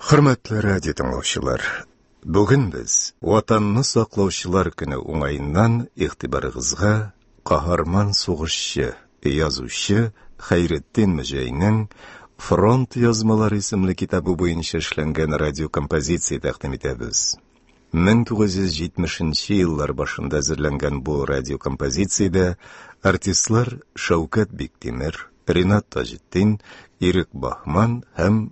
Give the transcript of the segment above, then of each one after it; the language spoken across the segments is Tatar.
Хөрмәтле радио тыңлаучылар, бүген без Ватанны саклаучылар көне уңаеннан игътибарыгызга каһарман сугышчы, язучы Хәйретдин Мөҗәйнең Фронт язмалары исемле китабы буенча эшләнгән радиокомпозиция тәкъдим итәбез. 1970 еллар башында әзерләнгән бу радиокомпозициядә артистлар Шәүкәт Биктимер, Ринат Таҗетдин, Ирек Бахман һәм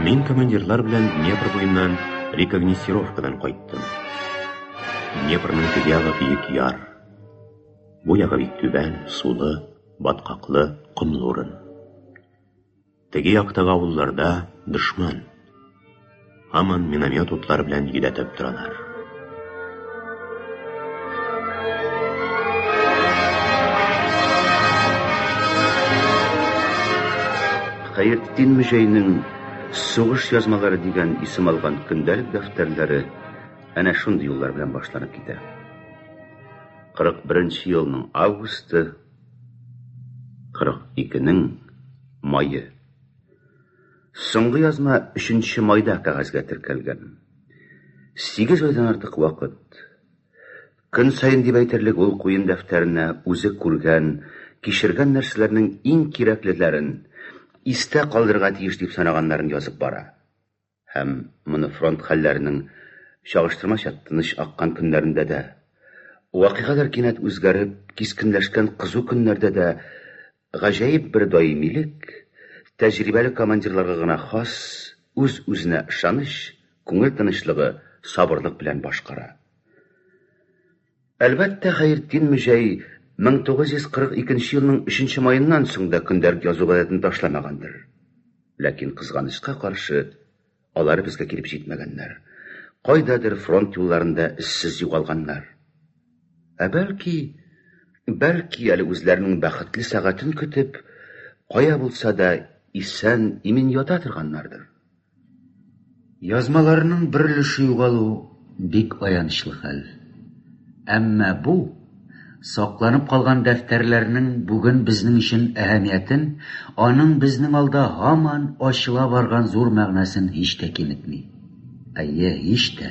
Мин командирлар белән Днепр буеннан рекогносцировкадан кайттым. Днепрның теге ягы биек яр. Бу ягы бик түбән, сулы, баткаклы, комлы урын. Теге яктагы авылларда дошман. Һаман миномет утлары белән йөдәтеп торалар. Хәертдин Мөҗәйнең Сугыш язмалары дигән исем алган көндәлек дәфтәрләре әнә шундый юллар белән башланып китә. 41 елның августы, 42-нең мае. Соңгы язма 3 майда кәгазьгә теркәлгән. Сигез айдан артык вакыт. Көн саен дип әйтерлек ул куен дәфтәренә үзе күргән, кичергән нәрсәләрнең иң кирәклеләрен, истә калдырырга тиеш дип санаганнарын язып бара. Һәм моны фронт хәлләренең чагыштырмача тыныч аккан көннәрендә дә, вакыйгалар кинәт үзгәреп, кискенләшкән кызу көннәрдә дә Гаҗәеп бер даимилек, тәҗрибәле командирларга гына хас үз-үзенә ышаныч, күңел тынычлыгы, сабырлык белән башкара. Әлбәттә, Хәертдин мөҗәй 1942 нче елның 3 нче маеннан соң да көндәлек язу гадәтен ташламагандыр. Ләкин, кызганычка каршы, Алар безгә килеп җитмәгәннәр. Кайдадыр фронт юлларында эзсез югалганнар. Ә бәлки, бәлки әле үзләренең бәхетле сәгатен көтеп, кая булса да исән, имин ята торганнардыр. Язмаларның бер өлеше югалу бик аянычлы хәл. Әмма бу Сакланып калган дәфтәрләрнең бүген безнең өчен әһәмиятен, аның безнең алда һаман ачыла барган зур мәгънәсен һич тә киметми. Әйе, һич тә.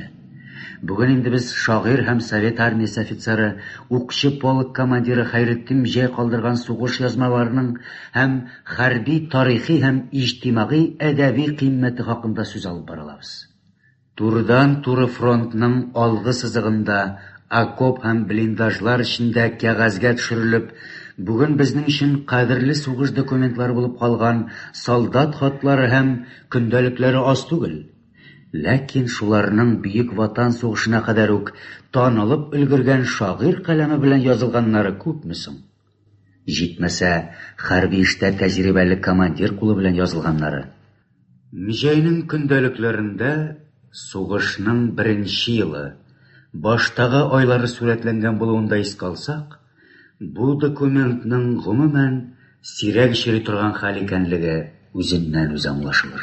Бүген инде без шагыйрь һәм Совет армиясе офицеры, укчы полк командиры Хәйретдин җәй калдырган сугыш язмаларының һәм хәрби тарихи һәм иҗтимагый әдәби кыйммәте хакында сүз алып бара алабыз. Турыдан-туры фронтның алгы сызыгында, окоп һәм блиндажлар эчендә кәгазьгә төшерелеп, бүген безнең өчен кадерле сугыш документлары булып калган солдат хатлары һәм көндәлекләре аз түгел. Ләкин шуларның Бөек Ватан сугышына кадәр үк танылып өлгергән шагыйрь каләме белән язылганнары күпме соң? Җитмәсә, хәрби эштә тәҗрибәле командир кулы белән язылганнары. Мҗәйнең көндәлекләрендә сугышның беренче елы, баштагы айлары сурәтләнгән булуын да искә алсак, бу документның, гомумән, сирәк очрый торган хәл икәнлеге үзеннән-үзе аңлашылыр.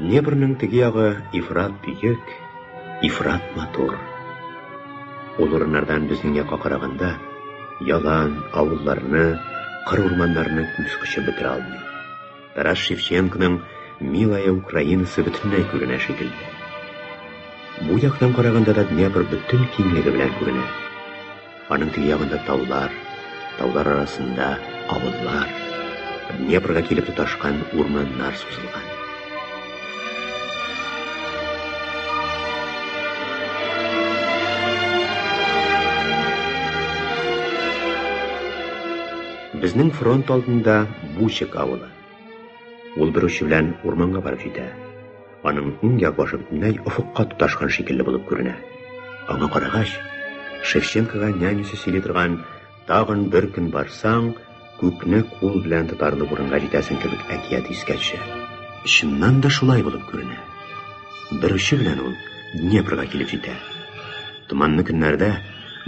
Днепрның теге ягы ифрат бөек, ифрат матур. Ул урыннардан безнең якка караганда, ялан, авылларны, кыр урманнарны күз кочып бетерә алмый. Тарас Шевченконың Милая Украинасы бөтенләй күренә шикелле. Бу яктан караганда да Днепр бөтен киңлеге белән күренә. Аның теге ягында таулар, таулар арасында авыллар, Днепрга килеп тоташкан урманнар сузылган. Безнең фронт алдында Бучек авылы. Ул бер очы белән урманга барып җитә. Аның иң як башы бөтенләй офыкка тоташкан шикелле булып күренә. Аңа карагач, Шевченкога нянюсе сөйли торган тагын бер көн барсаң, күкне кул белән тотарлы урынга җитәсең кебек әкият искә төшә. Чыннан да шулай булып күренә. Бер очы белән ул Днепрга килеп җитә. Томанлы көннәрдә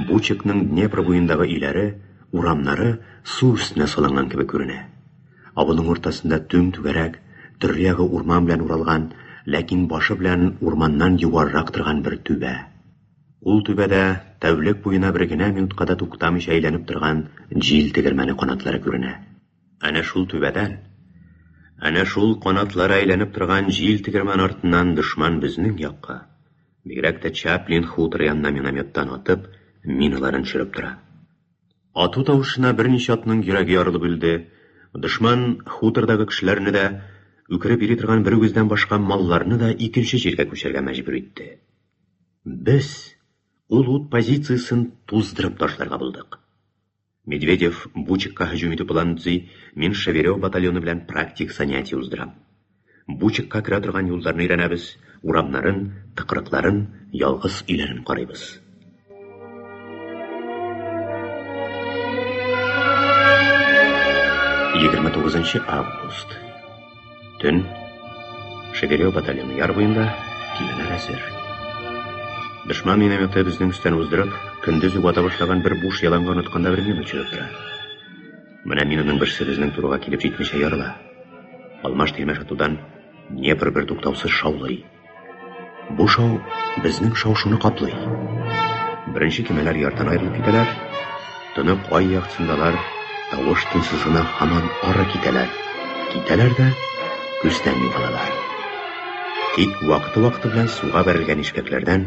Бучекның Днепр буендагы өйләре, урамнары су өстенә салынган кебек күренә. Авылның уртасында түм-түгәрәк, төрле ягы урман белән уралган, ләкин башы белән урманнан югарырак торган бер түбә. Ул түбәдә тәүлек буена бер генә минутка да туктамыйча әйләнеп торган җил тегермәне канатлары күренә. Әнә шул түбәдән, әнә шул канатлары әйләнеп торган җил тегермәне артыннан дошман безнең якка, бигрәк тә Чаплин хуторы янына минометтан атып, миналарын төшереп тора. Ату тавышына берничә атның йөрәге ярылып үлде. Дошман хутордагы кешеләрне дә, үкереп йөри торган бер үгездән башка малларны да икенче җиргә күчәргә мәҗбүр итте. Без ул ут позициясен туздырып ташларга булдык. Медведев Бучикка һөҗүм итү планын төзи, мин Шеверев батальоны белән практик занятие уздырам. Бучакка керә торган юлларны өйрәнәбез, урамнарын, тыкрыкларын, ялгыз өйләрен карыйбыз. Егерме тугызынчы август. Төн. Шеверев батальоны яр буенда, киләләр әзер. Дошман минометы безнең өстән уздырып, көндез үк ата башлаган бер буш яланга онытканда бер минут чыгып тора. Менә мин аның берсе безнең турыга килеп җитмичә ярыла. Алмаш тирмә шатудан Днепр бер туктаусыз шаулый. Бу шау безнең шау-шуны каплый. Беренче кемәләр ярдан аерылып китәләр. Тонык ай яктысындалар тавыш тынсыз гына һаман ары китәләр. Китәләр дә күздән югалалар. Тик вакыты-вакыты белән суга бәрелгән ишкәкләрдән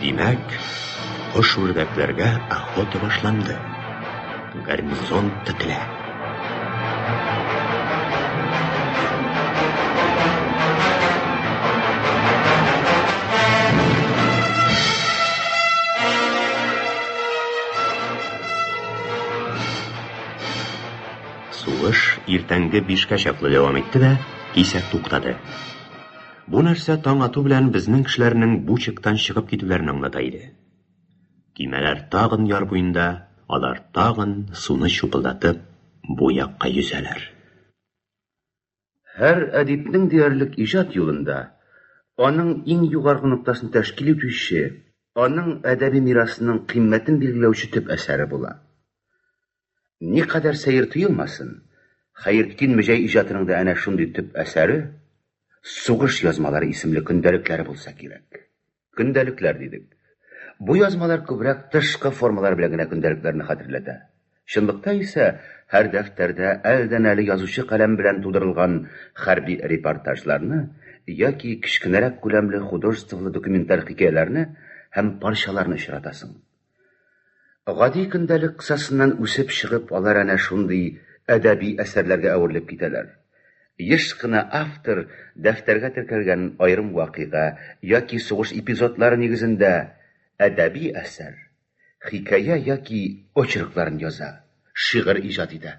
Димәк, кош-үрдәкләргә охота башланды. Гарнизон тетелә. Сугыш иртәнге бишкә чаклы дәвам итте дә, кисәк туктады. Бу нәрсә таң ату белән безнең кешеләрнең бу чиктан чыгып китүләрен аңлата иде. Көймәләр тагын яр буенда, алар тагын суны чупылдатып бу якка йөзәләр. Һәр әдипнең диярлек иҗат юлында аның иң югаргы ноктасын тәшкил итүче, аның әдәби мирасының кыйммәтен билгеләүче төп әсәре була. Никадәр сәер тоелмасын, Хәертдин Мөҗәй иҗатының да әнә шундый төп әсәре Сугыш язмалары исемле көндәлекләре булса кирәк. Көндәлекләр дидек. Бу язмалар күбрәк тышкы формалар белән генә көндәлекләрне хәтерләтә. Чынлыкта исә һәр дәфтәрдә әледән-әле язучы каләм белән тудырылган хәрби репортажларны яки кечкенәрәк күләмле художестволы документаль хикәяләрне һәм парчаларны очратасың. Гади көндәлек кысасыннан үсеп чыгып, алар әнә шундый әдәби әсәрләргә әверелеп китәләр. Еш кына автор дәфтәргә теркәлгән аерым вакыйга яки сугыш эпизодлары нигезендә әдәби әсәр, хикәя яки очеркларын яза, шигырь иҗат итә.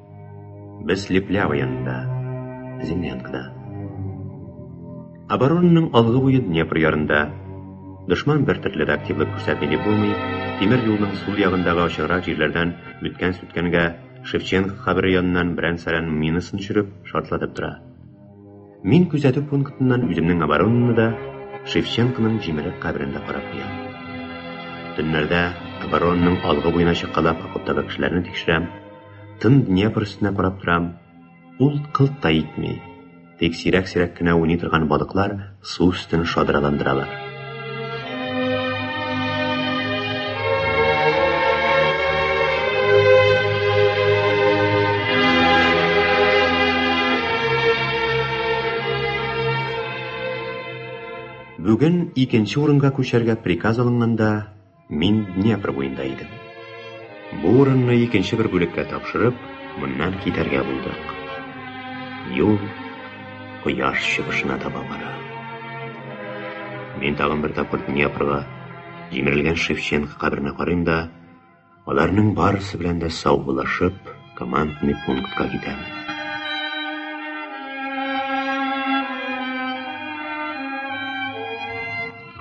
Без Леплява янында, Зимнянкада. Оборонның алгы буе Днепр ярында. Дошман бер төрле дә активлык күрсәтми дип булмый. Тимер юлның сул ягындагы ачыграк җирләрдән үткән сүткәнгә Шевченко кабере яныннан берән-сәрән минасын төшереп, шартлатып тора. Мин күзәтү пунктыннан үземнең оборонаны да Шевченконың җимерек каберен дә карап куям. Төннәрдә оборонның алгы буена чакалап окоптагы кешеләрне тикшерәм, Тын Днепр өстенә карап торам. Ул кылт та итми. Тик сирәк-сирәк кенә уйный торган балыклар су өстен шадраландыралар. Бүген икенче урынга күчәргә приказ алынганда, Мин Днепр буенда идем. Бу урынны икенче бер бүлеккә тапшырып, моннан китәргә булдык. Юл кояш чыгышына таба бара. Мин тагын бер тапкыр Днепрга, җимерелгән Шевченко каберенә карыйм да, аларның барысы белән дә саубуллашып, Командный пунктка китәм.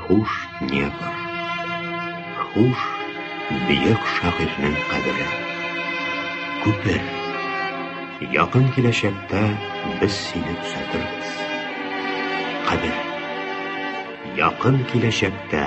Хуш Днепр. Хуш бөек шагыйрьнең кабере. Күпер. Якын киләчәктә без сине төзәтербез. Кабер. Якын киләчәктә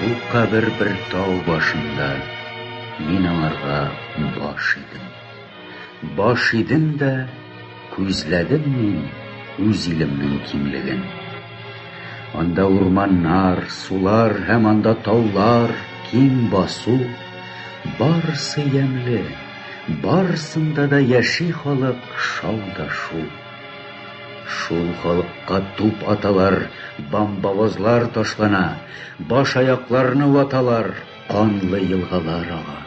Бу кабер бер тау башында, мин аңарга баш идем. Баш идем дә, күзләдем мин үз илемнең киңлеген. Анда урманнар, сулар һәм анда таулар, киң басу, барысы ямьле, барысында да яши халык шау да шул. Шул халыкка туп аталар, бамбавозлар ташлана, баш-аякларны ваталар, канлы елгалар ага.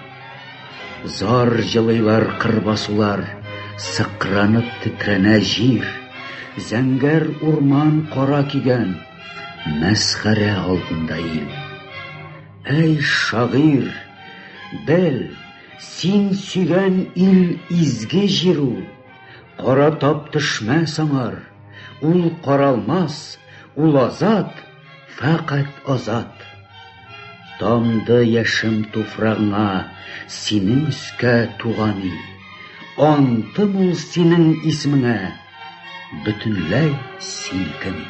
Зар җылыйлар кырбасулар, сыкранып тетрәнә җир, зәңгәр урман кара кигән, мәсхәрә алдында ил. Әй, шагыйрь, бел, син сөйгән ил изге җир ул. Кара тап төшмәс аңар, ул каралмас, ул азат, фәкать азат. Тамды яшем туфрагыңа, синең өскә туган ил. Антым ул синең исмеңә, бөтенләй силкеми.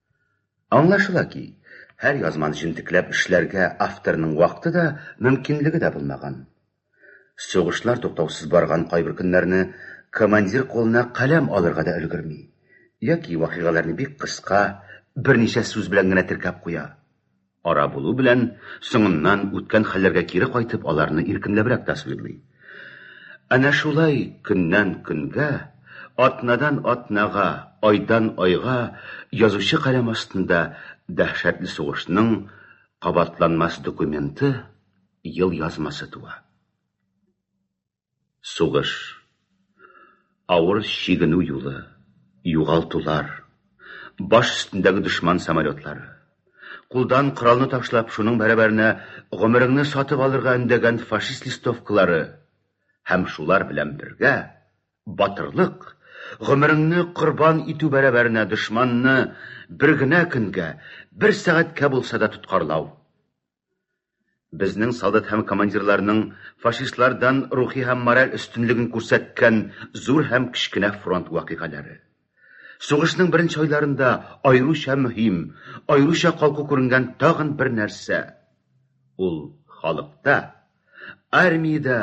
Аңлашыла ки, һәр язманы җентекләп эшләргә авторның вакыты да, мөмкинлеге дә булмаган. Сугышлар туктаусыз барган кайбер көннәрне командир кулына каләм алырга да өлгерми, яки вакыйгаларны бик кыска, берничә сүз белән генә теркәп куя. Ара булу белән, соңыннан үткән хәлләргә кире кайтып, аларны иркенләбрәк тасвирлый. Әнә шулай көннән-көнгә, атнадан-атнага, айдан-айга язучы каләм астында дәһшәтле сугышның кабатланмас документы, елъязмасы туа. Сугыш. Авыр чигенү юлы, югалтулар. Баш өстендәге дошман самолетлары. Кулдан коралны ташлап, шуның бәрабәренә гомереңне сатып алырга өндәгән фашист листовкалары. Һәм шулар белән бергә, батырлык, гомереңне корбан итү бәрабәренә дошманны бер генә көнгә, бер сәгатькә булса да тоткарлау. Безнең солдат һәм командирларның фашистлардан рухи һәм мораль өстенлеген күрсәткән зур һәм кечкенә фронт вакыйгалары. Сугышның беренче айларында аеруча мөһим, аеруча калку күренгән тагын бер нәрсә. Ул халыкта, армиядә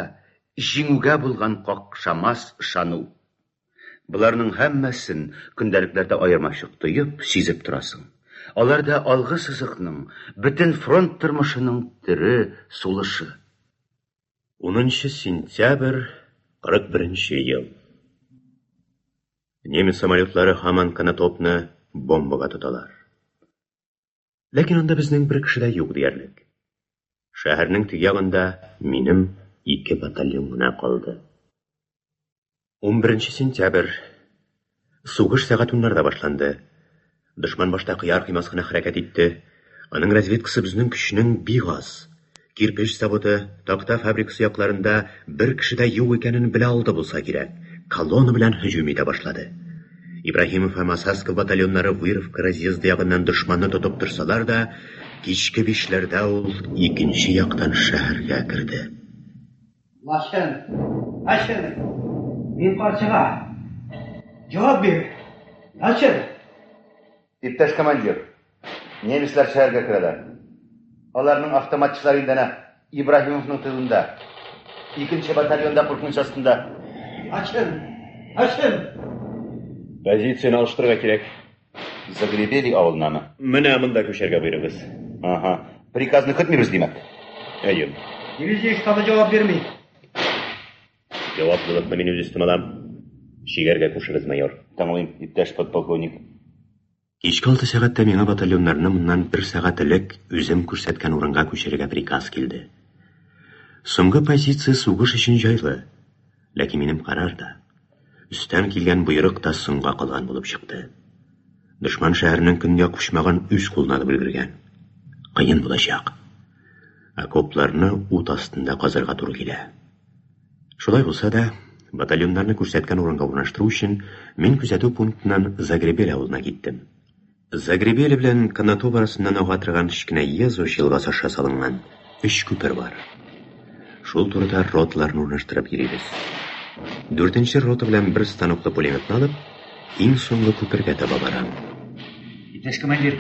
җиңүгә булган какшамас ышану. Боларның һәммәсен көндәлекләрдә аермачык тоеп, сизеп торасың. Алар да алгы сызыкның, бөтен фронт тормышының тере сулышы. 10 сентябрь 41 ел. Немец самолетлары һаман Конотопны бомбага тоталар. Ләкин анда безнең бер кеше дә юк диярлек. Шәһәрнең теге ягында минем ике батальон гына калды. 11 сентябрь. Сугыш сәгать уннарда башланды. Дошман башта кыяр-кыймас кына хәрәкәт итте. Аның разведкасы безнең көчнең бик аз. Кирпеч заводы, такта фабрикасы якларында бер кеше дә юк икәнен белә алды булса кирәк, колонна белән һөҗүм итә башлады. Ибраһимов һәм Осадсков батальоннары Выровка разъезды ягыннан дошманны тотып торсалар да, кичке бишләрдә ул икенче яктан шәһәргә керде. Лачын! Лачын! Мин карчыга! Җавап бир! Лачын! Иптәш командир, немецлар шәһәргә керәләр. Аларның автоматчылары инде әнә Ибраһимовның тылында. Икенче батальон да куркыныч астында. Ачын! Ачын! Позицияне алыштырырга кирәк. Загребели авылынамы? Менә монда күчәргә боерыгыз. Ага. Приказны көтмибез, димәк. Әйе. Дивизия штабы җавап бирми. Җаваплылыкны мин үз өстемә алам. Чигәргә кушыгыз, майор. Тыңлыйм, иптәш подполковник. Кичке алты сәгатьтә миңа батальоннарны моннан бер сәгать элек үзем күрсәткән урынга күчерергә приказ килде. Соңгы позиция сугыш өчен җайлы, ләкин минем карар да, өстән килгән боерык та соңга калган булып чыкты. Дошман шәһәрнең көньяк почмагын үз кулына алып өлгергән. Кыен булачак. Окопларны ут астында казырга туры килә. Шулай булса да, батальоннарны күрсәткән урынга урнаштыру өчен мин күзәтү пунктыннан Загребель авылына киттем. Загребель белән Канатоп арасыннан ага торган кечкенә Езуш елгасы аша салынган өч күпер бар. Шул турыда роталарны урнаштырып йөрибез. Дүртенче рота белән бер станоклы пулеметны алып, Иң соңгы күпергә таба барам. Иптәш командир,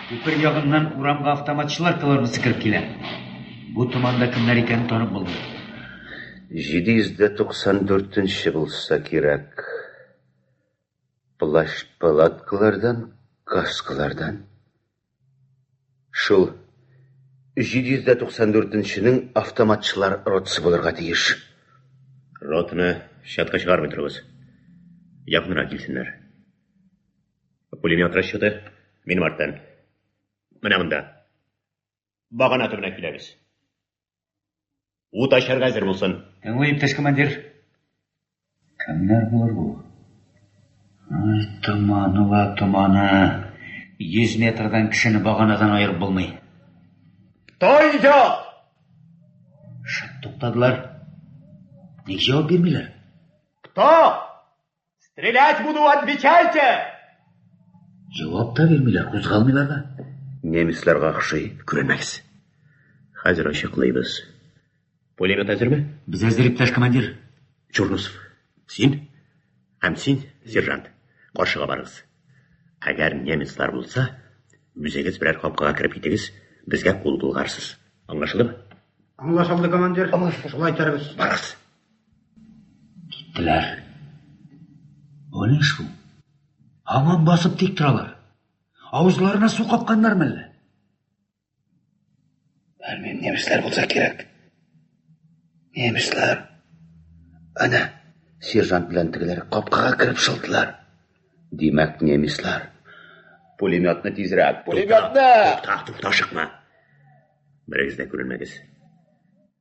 күпер ягыннан урамга автоматчылар колоннасы кереп килә. Бу томанда кемнәр икәнен танып булмый. 794 нче булса кирәк. Плащ-палаткалардан, каскалардан Шул 794 нченең автоматчылар ротасы булырга тиеш. Ротаны чатка чыгармый торыгыз. Якынрак килсеннәр. Пулемет расчеты минем арттан. Менә монда. Багана төбенә киләбез. Ут ачарга әзер булсын. Тыңлый, иптәш командир. Кемнәр булыр бу? Томаны ла томаны. 100 метрдан кешене баганадан аерып булмый. Тайда! Шып туктадылар. Ник җавап бирмиләр? Кто? Стрелять буду, отвечайте! Җавап та бирмиләр, кузгалмыйлар да. Немецларга охшый, күренмәгез. Хәзер ачыклыйбыз. Пулемет әзерме? Без әзер, иптәш командир. Чурнусов, син һәм син, сержант, каршыга барыгыз. Әгәр немецлар булса, үзегез берәр капкага кереп китегез, безгә кул булгарсыз. Аңлашылдымы? Аңлашылды, командир. Шулай итәрбез. Барыгыз. Киттеләр. Бу ни шул? Һаман басып тик торалар. Авызларына су капканнармы әллә? Белмим, немецлар булса кирәк. Немецлар. Ана, сержант белән тегеләр капкага кереп шылдылар. Димәк, немецлар. Пулеметны тизрәк. Пулеметны! Тукта, тукта, ашыкма. Берегез дә күренмәгез.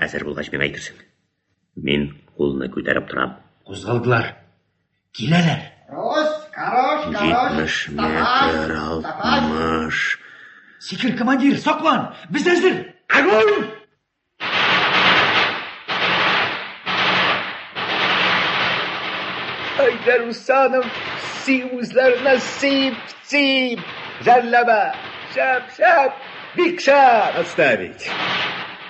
Әзер булгач миңа әйтерсең. Мин кулны күтәреп торам. Кузгалдылар. Киләләр. Рос, карош, карош. 70 метр, 60. Сикер, командир, саклан. Без әзер. Огонь! Әйдәр Усанов, си үзләренә сип, сип. Жәлләбә. Шәп, шәп. Бик шәп. Отставить.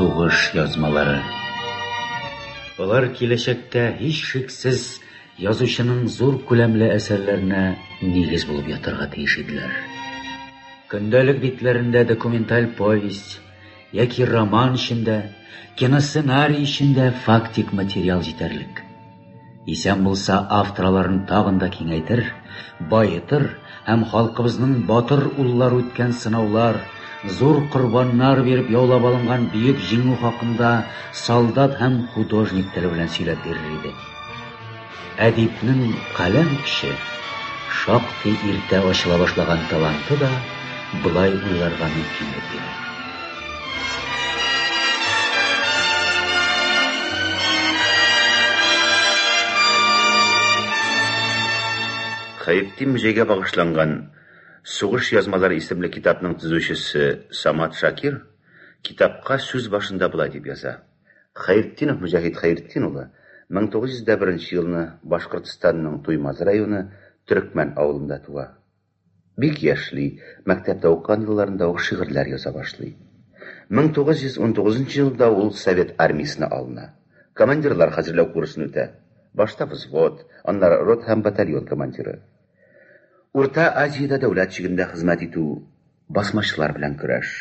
Сугыш язмалары. Алар киләчәктә һичшиксез язучының зур күләмле әсәрләренә нигез булып ятарга тиеш иделәр. Көндәлек битләрендә документаль повесть, Яки роман эчендә, киносценарий эчендә фактик материал җитәрлек. Исән булса, автор аларын тагын да киңәйтер, баетыр һәм халкыбызның батыр уллары үткән сынаулар, зур корбаннар биреп яулап алынган бөек җиңү хакында солдат һәм художник теле белән сөйләп бирер иде. Әдипнең каләм көче, шактый иртә ачыла башлаган таланты да болай уйларга мөмкинлек бирә. Хәертдин мөҗәйгә багышланган Сугыш язмалары исемле китапның төзүчесе Самат Шакир китапка сүз башында болай дип яза. Хәертдинов Мөҗәһит Хәертдин улы 1901 елны Башкортстанның Туймазы районы Төрекмән авылында туа. Бик яшьли, мәктәптә укыган елларында ук шигырьләр яза башлый. 1919 елда ул Совет армиясенә алына. Командирлар хәзерләү курсын үтә. Башта взвод, аннары рота һәм батальон командиры. Урта Азиядә дәүләт чигендә хезмәт итү. Басмачылар белән көрәш.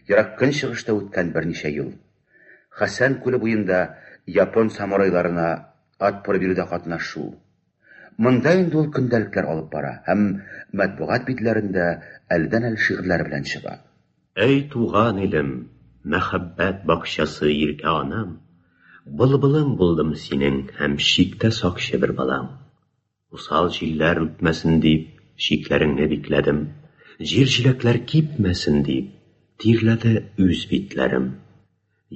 Ерак Көнчыгышта үткән берничә ел. Хасян күле буенда япон самурайларына отпор бирүдә катнашу. Монда инде ул көндәлекләр алып бара һәм матбугат битләрендә әледән-әле шигырьләре белән чыга. Әй туган илем, мәхәббәт бакчасы иркә анам, Былбылың булдым синең һәм чиктә сакчы бер балаң. Усал җилләр үтмәсен дип, чикләреңне бикләдем. Җир җиләкләр кипмәсен дип, тирләде үз битләрем.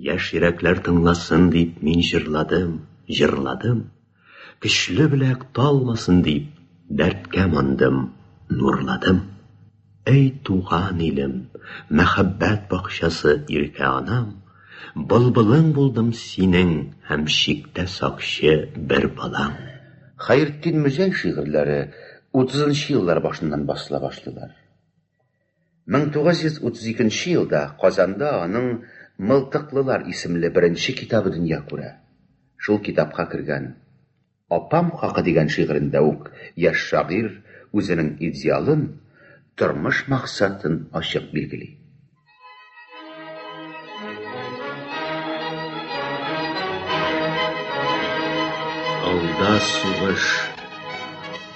Яшь йөрәкләр тыңласын дип, мин җырладым, җырладым. Көчле беләк талмасын дип, дәрткә мандым, нурладым. Әй туган илем, мәхәббәт бакчасы иркә анам, Былбылың булдым синең һәм чиктә сакчы бер балам. Хәертдин Мөзәй шигырьләре утызынчы еллар башыннан басыла башлыйлар. 1932 нче елда Казанда аның Мылтыклылар исемле беренче китабы дөнья күрә. Шул китапка кергән. Апам хакы дигән шигырендә үк яшь шагыйрь үзенең идеалын, тормыш максатын ачык билгели. Алда сугыш,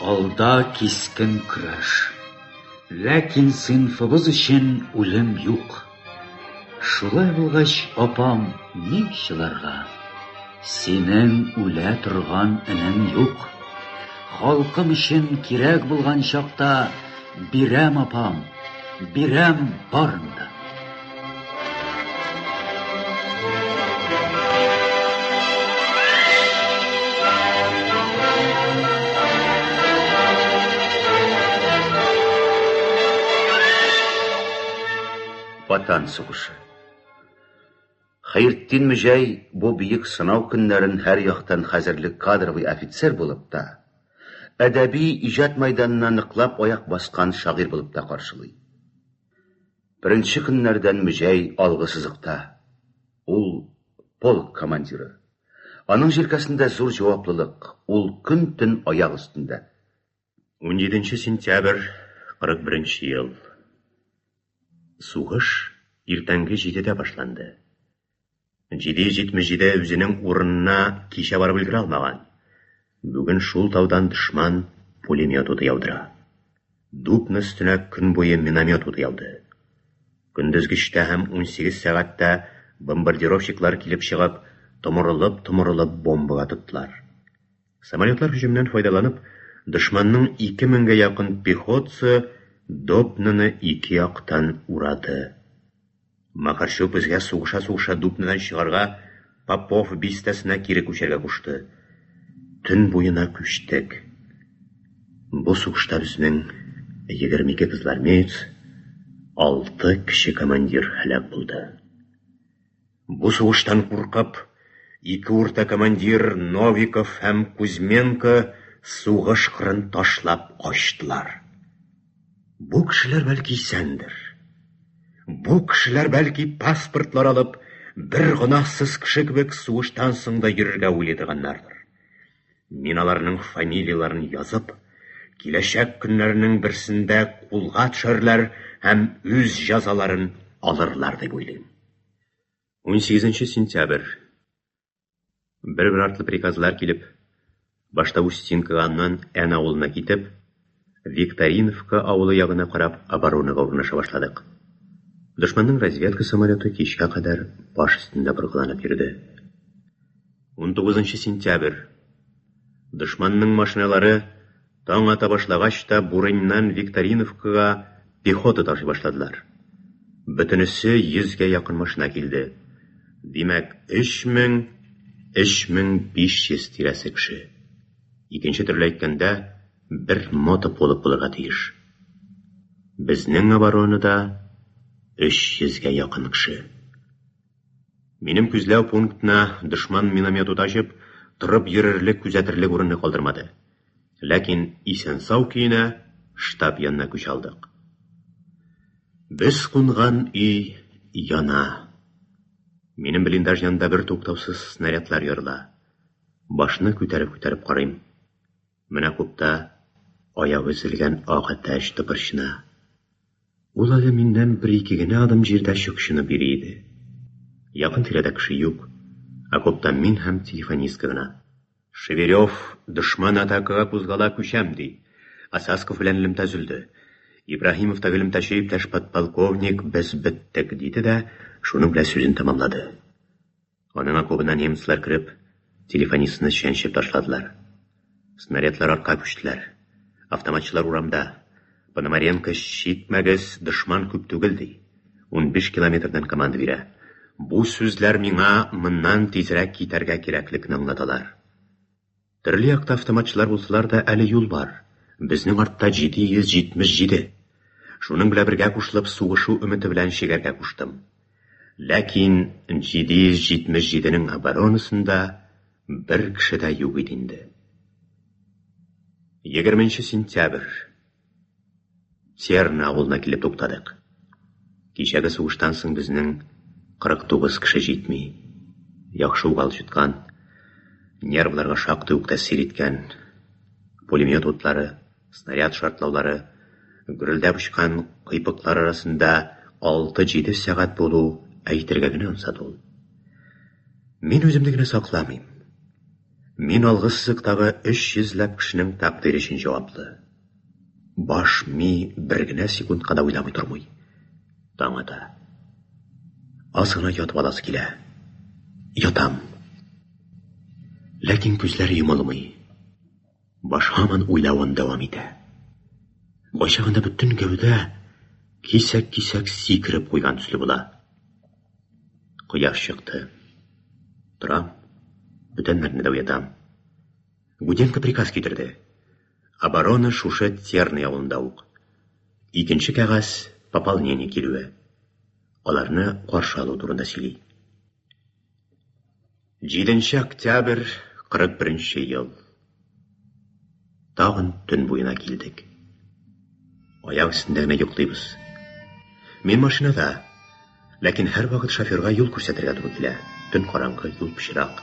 алда кискен көрәш. Ләкин сыйнфыбыз өчен үлем юк. Шулай булгач, апам, ни чыларга? Синең үлә торган энең юк. Халкым өчен кирәк булган чакта бирәм, апам, бирәм барын да. Ватан сугышы. Хәертдин Мөҗәй бу биек сынау көннәрен һәр яктан хәзерлек кадровый офицер булып та, әдәби иҗат майданына ныклап аяк баскан шагыйрь булып та каршылый. Беренче көннәрдән Мөҗәй алгы сызыкта. Ул полк командиры. Аның җилкәсендә зур җаваплылык, ул көн-төн аяк өстендә. 17 сентябрь 41 ел. Сугыш иртәнге җидедә башланды. 777 үзенең урынына кичә барып өлгерә алмаган. Бүген шул таудан дошман пулемет уты яудыра. Дубны өстенә көн буе миномет уты яуды. Көндезгечтә һәм 18 сәгатьтә бомбардировщиклар килеп чыгып, томырылып-томырылып бомбага тоттылар. Самолетлар һөҗүменнән файдаланып, дошманның ике меңгә якын пехотцы Дубноны ике яктан урады. Макарчук безгә сугыша-сугыша Дубнодан чыгарга Попов бистәсенә кире күчәргә кушты. Төн буена күчтек. Бу сугышта безнең егерме ике кызылармеец, алты кече командир һәлак булды. Бу сугыштан куркып, ике урта командир Новиков һәм Кузьменко сугыш кырын ташлап качтылар. Бу кешеләр бәлки исәндер. Бу кешеләр бәлки паспортлар алып, бер гөнаһсыз кеше кебек сугыштан соң да йөрергә уйлый торганнардыр. Мин аларның фамилияләрен язып, киләчәк көннәрнең берсендә кулга төшәрләр һәм үз җәзаларын алырлар дип уйлыйм. 18 сентябрь. Бер-бер артлы приказлар килеп, башта Устинкага, аннан Ән авылына китеп, Викториновка авылы ягына карап оборонага урнаша башладык. Дошманның разведка самолеты кичкә кадәр баш өстендә боргаланып йөрде. 19 сентябрь. Дошманның машиналары таң ата башлагач та Бурыньнан Викториновкага пехота ташый башладылар. Бөтенесе 100 гә якын машина килде. Димәк, 3000, 3500 тирәсе кеше. Икенче төрле әйткәндә, бер мото полк булырга тиеш. Безнең оборонада 300 гә якын кеше. Минем күзләү пунктына дошман миномет ут ачып, торып йөрерлек, күзәтерлек урынны калдырмады. Ләкин исән-сау көенә штаб янына күч алдык. Без кунган өй яна. Минем блиндаж янында бертуктаусыз снарядлар ярыла. Башны күтәреп-күтәреп карыйм. Менә купта аягы өзелгән ак әтәч тыпырчына. Ул әле миннән бер-ике генә адым җирдә чукчынып йөри иде. Якын-тирәдә кеше юк, окопта мин һәм телефонистка гына. Шевелев, дошман атакага кузгала, күчәм, ди. Осасков белән элемтә өзелде. Ибраһимов та элемтәче иптәш подполковник, без беттек, диде дә шуның белән сүзен тәмамлады. Аның окобына немецлар кереп, телефонистны чәнчеп ташладылар. Снарядлар артка күчтеләр. Автоматчылар урамда. Пономаренко чикмәгез, дошман күп түгел, ди. Унбиш километрдан команда бирә. Бу сүзләр миңа моннан тизрәк китәргә кирәклекне аңлаталар. Төрле якта автоматчылар булсалар да, әле юл бар. Безнең артта 777. Шуның белән бергә кушылып, сугышу өмете белән чигәргә куштым. Ләкин 777-нең оборонасында бер кеше дә юк иде инде. Егерменче сентябрь. Серна авылына килеп туктадык. Кичәге сугыштан соң безнең 49 кеше җитми. Яхшы ук алҗыткан, нервларга шактый ук тәэсир иткән. Пулемет утлары, снаряд шартлаулары, гөрелдәп очкан кыйпыклар арасында 6-7 сәгать булу әйтергә генә ансат ул. Мин үземне генә сакламыйм. Мин алгы сызыктагы 300 ләп кешенең тәкъдире өчен җаваплы. Баш ми бер генә секундка да уйламый тормый. Таң ата. Аз гына ятып аласы килә. Ятам. Ләкин күзләр йомылмый. Баш һаман уйлавын дәвам итә. Кайчагында бөтен гәүдә кисәк-кисәк сикереп куйган төсле була. Кояш чыкты. Торам, бүтәннәрне дә уятам. Гуденко приказ китерде. Оборона шушы Терный авылында ук. Икенче кәгазь пополнение килүе. Аларны каршы алу турында сөйли. 7 октябрь 41 ел. Тагын төн буена килдек. Аяк өстендә генә йоклыйбыз. Мин машинада, ләкин һәрвакыт шоферга юл күрсәтергә туры килә. Төн караңгы, юл пычрак.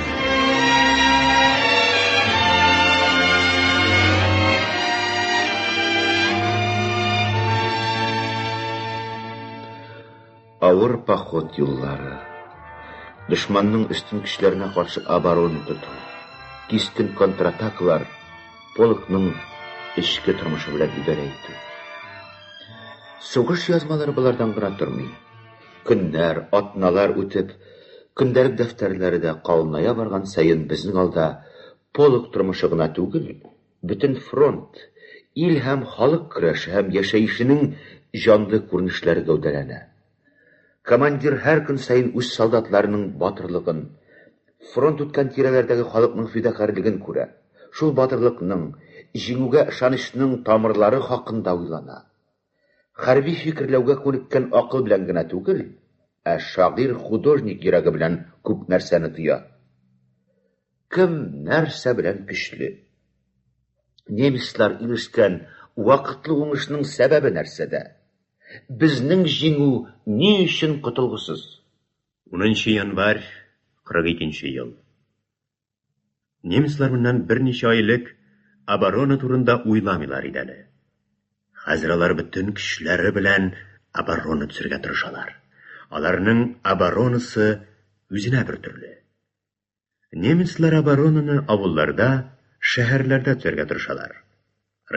Авыр поход юллары. Дошманның өстен көчләренә каршы оборона тоту. Кистен контратакалар полкның эчке тормышы белән идарә итү. Сугыш язмалары болардан гына тормый. Көннәр, атналар үтеп, көндәлек дәфтәрләре дә калыная барган саен безнең алда полк тормышы гына түгел, бөтен фронт, ил һәм халык көрәше һәм яшәешенең җанлы күренешләре гәүдәләнә. Командир һәр көн саен үз солдатларының батырлыгын, фронт үткән тирәләрдәге халыкның фидакарьлеген күрә, шул батырлыкның, җиңүгә ышанычның тамырлары хакында уйлана. Хәрби фикерләүгә күнеккән акыл белән генә түгел, ә шагыйрь-художник йөрәге белән күп нәрсәне тоя. Кем нәрсә белән көчле? Немецлар ирешкән вакытлы уңышның сәбәбе нәрсәдә? Безнең җиңү ни өчен котылгысыз? 10 нчы январь 42 нче ел. Немецлар моннан берничә ай элек оборона турында уйламыйлар иде әле. Хәзер алар бөтен көчләре белән оборона төзергә тырышалар. Аларның оборонасы үзенә бер төрле. Немецлар оборонаны авылларда, шәһәрләрдә төзергә тырышалар.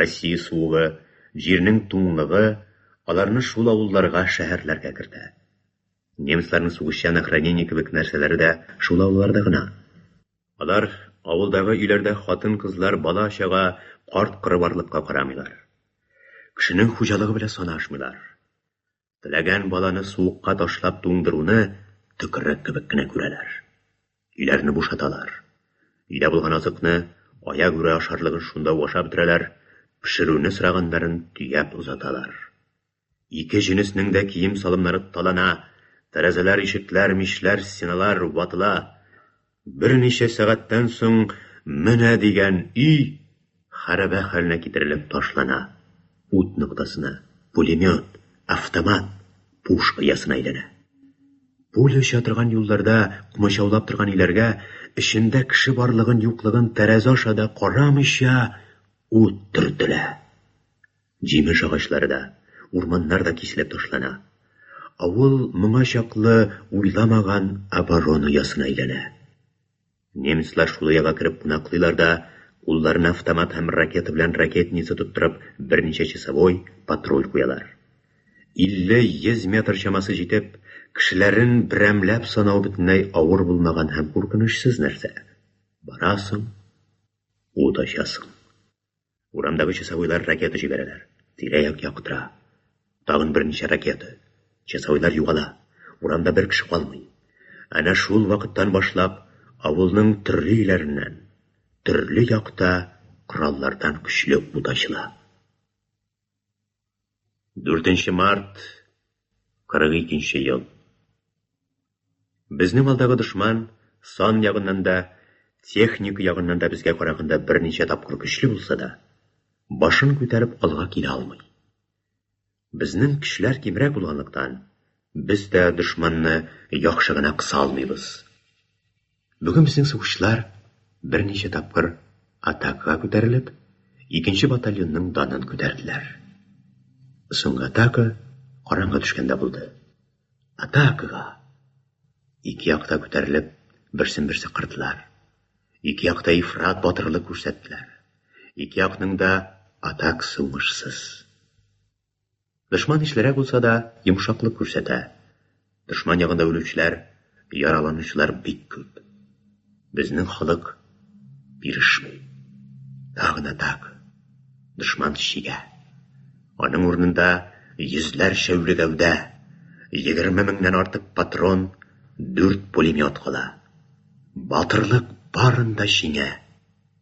Россия суыгы, җирнең туңлыгы аларны шул авылларга, шәһәрләргә кертә. Немецларның сугышчан охранение кебек нәрсәләре дә шул авылларда гына. Алар авылдагы өйләрдә хатын-кызлар, бала-чага, карт-коры барлыкка карамыйлар. Кешенең хуҗалыгы белән санашмыйлар. Теләгән баланы суыкка ташлап туңдыруны төкерек кебек кенә күрәләр. Өйләрне бушаталар. Өйдә булган азыкны, аяк үрә ашарлыгын шунда ук ашап бетерәләр, пешерүне сораганнарын төяп озаталар. Ике җенеснең дә кием-салымнары талана, тәрәзәләр, ишекләр, мичләр, стеналар ватыла. Берничә сәгатьтән соң менә дигән өй хәрабә хәленә китерелеп ташлана, ут ноктасына, пулемет, автомат, пуш оясына әйләнә. Пуля оча торган юлларда кмачаулап торган өйләргә, эчендә кеше барлыгын-юклыгын тәрәзә аша да карамыйча, ут төртелә. Җимеш агачлары да, урманнар да киселеп ташлана. Авыл моңа чаклы уйламаган оборона оясына әйләнә. Немецлар шул ояга кереп кунаклыйлар да, кулларына автомат һәм ракета белән ракетница тоттырып, берничә часовой, патруль куялар. 50-100 метр чамасы җитеп, кешеләрен берәмләп санау бөтенләй авыр булмаган һәм куркынычсыз нәрсә. Барасың, ут ачасың. Урамдагы часовойлар ракета җибәрәләр. Тирә-як яктыра. Тагын берничә ракета. Часовойлар югала. Урамда бер кеше калмый. Әнә шул вакыттан башлап авылның төрле өйләреннән, төрле якта кораллардан көчле ут ачыла. 4 март 42 ел. Безнең алдагы дошман сан ягыннан да, техник ягыннан да безгә караганда берничә тапкыр көчле булса да, башын күтәреп алга килә алмый. Безнең көчләр кимрәк булганлыктан, без дә дошманны яхшы гына кыса алмыйбыз. Бүген безнең сугышчылар берничә тапкыр атакага күтәрелеп, икенче батальонның данын күтәрделәр. Соңгы атака караңгы төшкәндә булды. Атакага! Ике якта күтәрелеп, берсен-берсе кырдылар. Ике якта ифрат батырлык күрсәттеләр. Ике якның да атак суңышсыз. Дошман ишлерәк булса да, йомшаклык күрсәтә. Дошман ягында үлүчеләр, яраланучылар бик күп. Безнең халык бирешми. Тагы гына так. Дошман чигә. Аның урынында йөзләрчә үле гәүдә, егерме меңнән артык патрон, дүрт пулемет кала. Батырлык барында җиңә.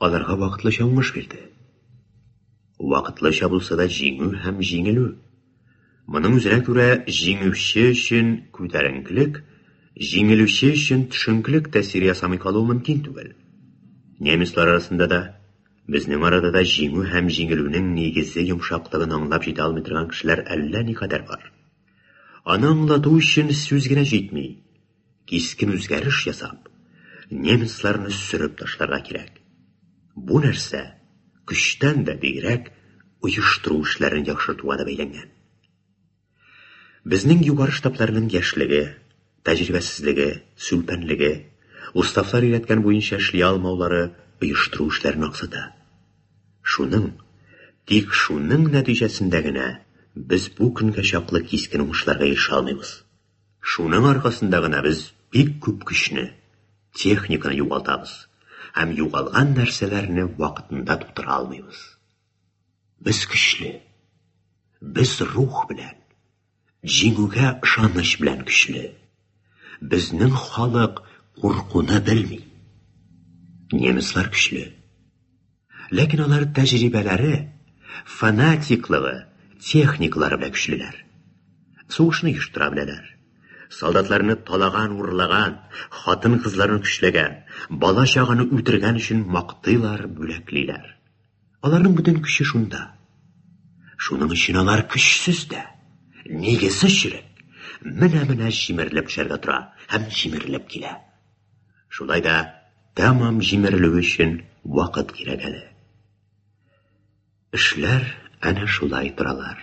Аларга вакытлыча уңыш бирде. Вакытлыча булса да җиңү һәм җиңелү. Моның үзенә күрә җиңүче өчен күтәренклек, җиңелүче өчен төшенклек тәэсир ясамый калуы мөмкин түгел. Немецлар арасында да, безнең арада да җиңү һәм җиңелүнең нигезе йомшаклыгын аңлап җитә алмый торган кешеләр әллә никадәр бар. Аны аңлату өчен сүз генә җитми. Кискен үзгәреш ясап, немецларны сөреп ташларга кирәк. Бу нәрсә көчтән дә бигрәк оештыру эшләрен яхшыртуга да бәйләнгән. Безнең югары штабларның яшьлеге, тәҗрибәсезлеге, сүлпәнлеге, уставлар өйрәткән буенча эшли алмаулары оештыру эшләрен аксата. Шуның, тик шуның нәтиҗәсендә генә без бу көнгә чаклы кискен уңышларга ирешә алмыйбыз. Шуның аркасында гына без бик күп көчне, техниканы югалтабыз һәм югалган нәрсәләрне вакытында тутыра алмыйбыз. Без көчле. Без рух белән, җиңүгә ышаныч белән көчле. Безнең халык куркуны белми. Немецлар көчле. Ләкин алар тәҗрибәләре, фанатиклыгы, техникалары белән көчлеләр. Сугышны оештыра беләләр. Солдатларны талаган, урлаган, хатын-кызларны көчләгән, бала чаганы үтергән өчен мактыйлар, бүләклиләр. Аларның бөтен көче шунда. Шуның өчен алар көчсез дә, нигезе чирек. Менә-менә җимерелеп төшәргә тора һәм җимерелеп килә. Шулай да тәмам җимерелү өчен вакыт кирәк әле. Эшләр әнә шулай торалар.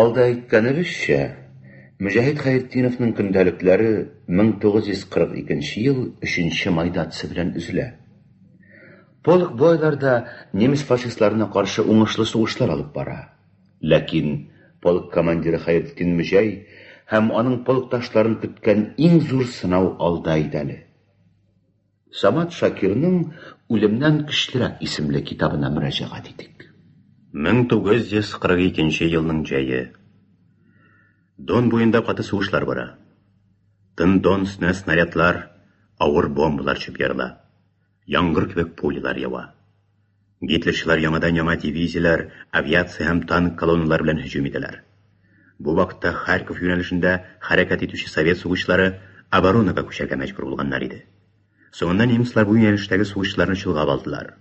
Алда әйткәнебезчә, Мөҗәһит Хәйретдиновның көндәлекләре 1942 ел 3 май датасы белән өзелә. Полк бу айларда немец фашистларына каршы уңышлы сугышлар алып бара. Ләкин полк командиры Хәйретдин Мөҗәй һәм аның полкташларын көткән иң зур сынау алда иде әле. Самат Шакирның Үлемнән көчлерәк исемле китабына мөрәҗәгать итик. 1942 елның җәе. Дон буенда каты сугышлар бара. Тын Дон өстенә снарядлар, авыр бомбалар чүп ярыла. Яңгыр кебек пулялар ява. Гитлерчылар яңадан-яңа дивизияләр, авиация һәм танк колонналары белән һөҗүм итәләр. Бу вакытта Харьков юнәлешендә хәрәкәт итүче совет сугышчылары оборонага күчәргә мәҗбүр булганнар иде. Соңыннан немецлар бу юнәлештәге сугышчыларны чолгап алдылар.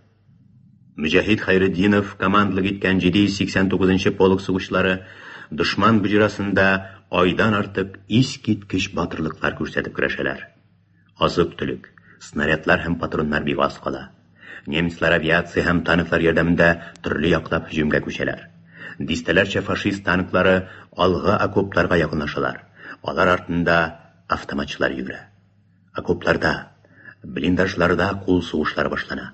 Мөҗәһит Хәйретдинов командлык иткән 789 нчы полк сугышчылары дошман боҗрасында айдан артык искиткеч батырлыклар күрсәтеп көрәшәләр. Азык-төлек, снарядлар һәм патроннар бик аз кала. Немецлар авиация һәм танклар ярдәмендә төрле яклап һөҗүмгә күчәләр. Дистәләрчә фашист танклары алгы окопларга якынлашалар, алар артында автоматчылар йөгерә. Окопларда, блиндажларда кул сугышлары башлана.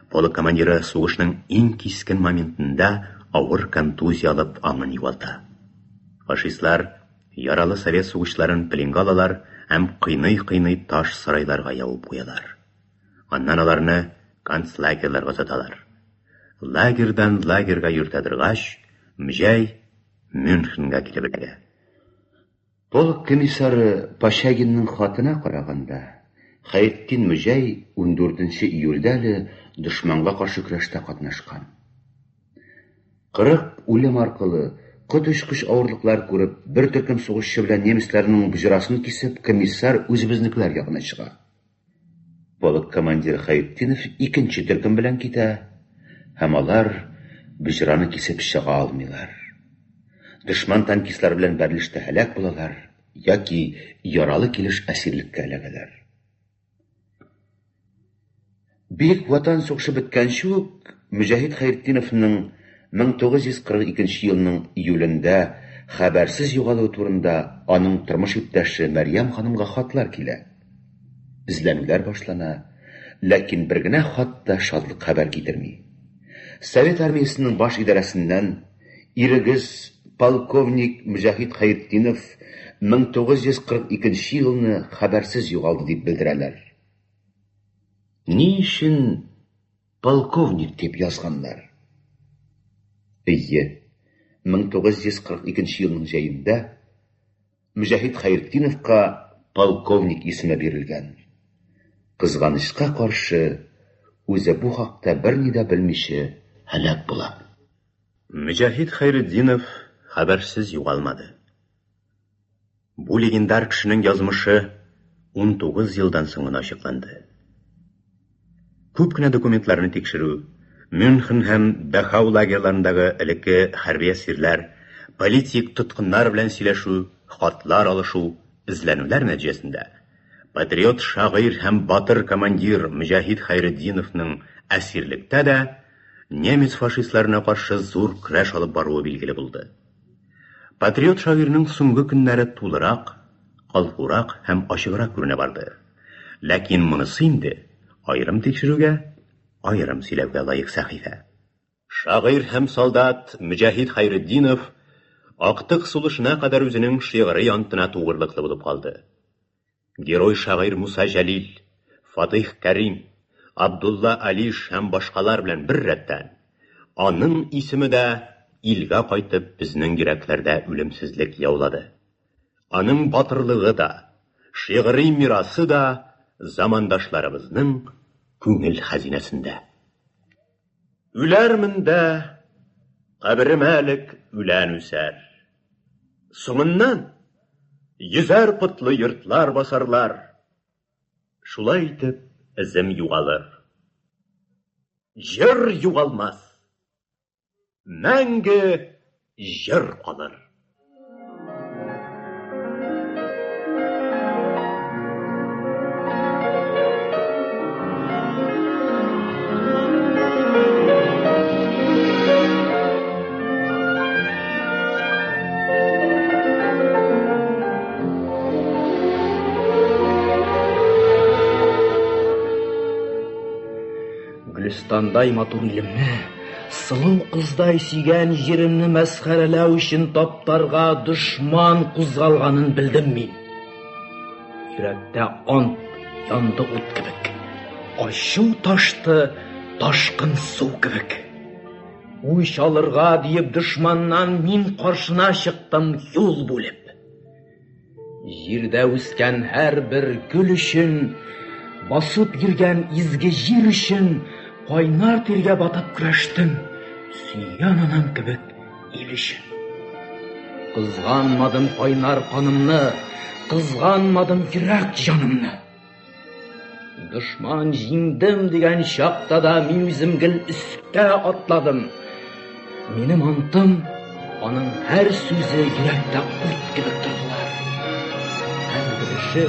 Полк командиры сугышның иң кискен моментында авыр контузия алып аңын югалта. Фашистлар, Яралы совет сугышчыларын пленга алалар һәм кыйный-кыйный таш сарайларга ябып куялар. Аннан аларны концлагерьларга озаталар. Лагерьдан лагерьга йөртә торгач, Мҗәй Мюнхенга килеп эләгә. Полк комиссары Пощагинның хатына караганда, Хәертдин Мҗәй 14 нче июльдә әле дошманга каршы көрәштә катнашкан. 40 үлем аркылы, 43 көч авырлыклар күреп, бер төркем сугышчы белән немецларның боҗрасын кисеп, комиссар үзебезнекеләр ягына чыга. Полк командиры Хәйретдинов икенче төркем белән китә, һәм алар боҗраны кисеп чыга алмыйлар. Дошман танкистлары белән бәрелештә һәлак булалар яки яралы килеш әсирлеккә эләгәләр. Бөек Ватан сугышы беткәнче үк Мөҗәһит Хәертдиновның 1942 елның июлендә хәбәрсез югалуы турында аның тормыш иптәше Мәрьям ханымга хатлар килә. Эзләнүләр башлана, ләкин бер генә хат та шатлык хәбәр китерми. Совет армиясенең баш идарәсеннән, Ирегез, полковник Мөҗәһит Хәертдинов 1942 елны хәбәрсез югалды дип белдерәләр. Ни өчен полковник дип язганнар? Әйе, 1942 елның җәендә Мөҗәһит Хәертдиновка полковник исеме бирелгән. Кызганычка каршы, үзе бу хакта берни дә белмичә һәлак була. Мөҗәһит Хәйретдинов хәбәрсез югалмады. Бу легендар кешенең язмышы унтугыз елдан соң гына ачыкланды. Күп кенә документларны тикшерү, Мюнхен һәм Дахау лагерьларындагы элекке хәрби әсирләр, политик тоткыннар белән сөйләшү, хатлар алышу, эзләнүләр нәтиҗәсендә патриот шагыйрь һәм батыр командир Мөҗәһит Хәйретдиновның әсирлектә дә, немец фашистларына каршы зур көрәш алып баруы билгеле булды. Патриот шагыйрьнең соңгы көннәре тулырак, калкурак һәм ачыграк күренә барды. Ләкин монысы инде аерым тикшерүгә, аерым сөйләүгә лаек сәхифә. Шагыйрь һәм солдат Мөҗәһит Хәйретдинов актык сулышына кадәр үзенең шигъри антына тугрылыклы булып калды. Герой-шагыйрь Муса Җәлил, Фатыйх Кәрим, Абдулла Алиш һәм башкалар белән бер рәттән, аның исеме дә илгә кайтып безнең йөрәкләрдә үлемсезлек яулады. Аның батырлыгы да, шигъри мирасы да замандашларыбызның күңел хәзинәсендә. Үләрмен дә, каберемә элек үлән үсәр. Соңыннан йөзәр котлы йортлар басарлар. Шулай итеп, эзем югалыр. Җыр югалмас. Мәңге җыр калыр. Гөлстандай матур илемне, сылу кыздай сөйгән җиремне мәсхәрәләү өчен таптарга дошман кузгалганын белдем мин. Йөрәктә он янды ут кебек, ачу ташты ташкын су кебек. Үч алырга диеп дошманнан мин каршына чыктым юл бүлеп. Җирдә үскән һәр бер гөл өчен, басып йөргән изге җир өчен кайнар тиргә батып көрәштем, сөйгән анам кебек ил өчен. Кызганмадым кайнар канымны, кызганмадым йөрәк җанымны. Дошман җиңдем дигән чакта да мин үзем гел өскә атладым. Минем антым, аның һәр сүзе йөрәктә ут кебек тордылар. Һәр береше,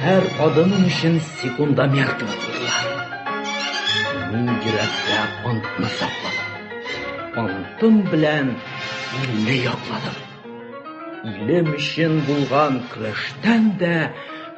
һәр адымым өчен секунда мәртәбә булдылар. Мин йөрәктә антны сакладым. Антым белән илне якладым. Илем өчен булган көрәштән дә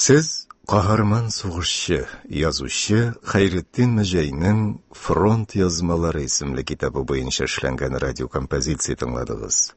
Сез каһарман сугышчы, язучы Хәйретдин Мәҗәйнең Фронт язмалары исемле китабы буенча эшләнгән радиокомпозиция тыңладыгыз.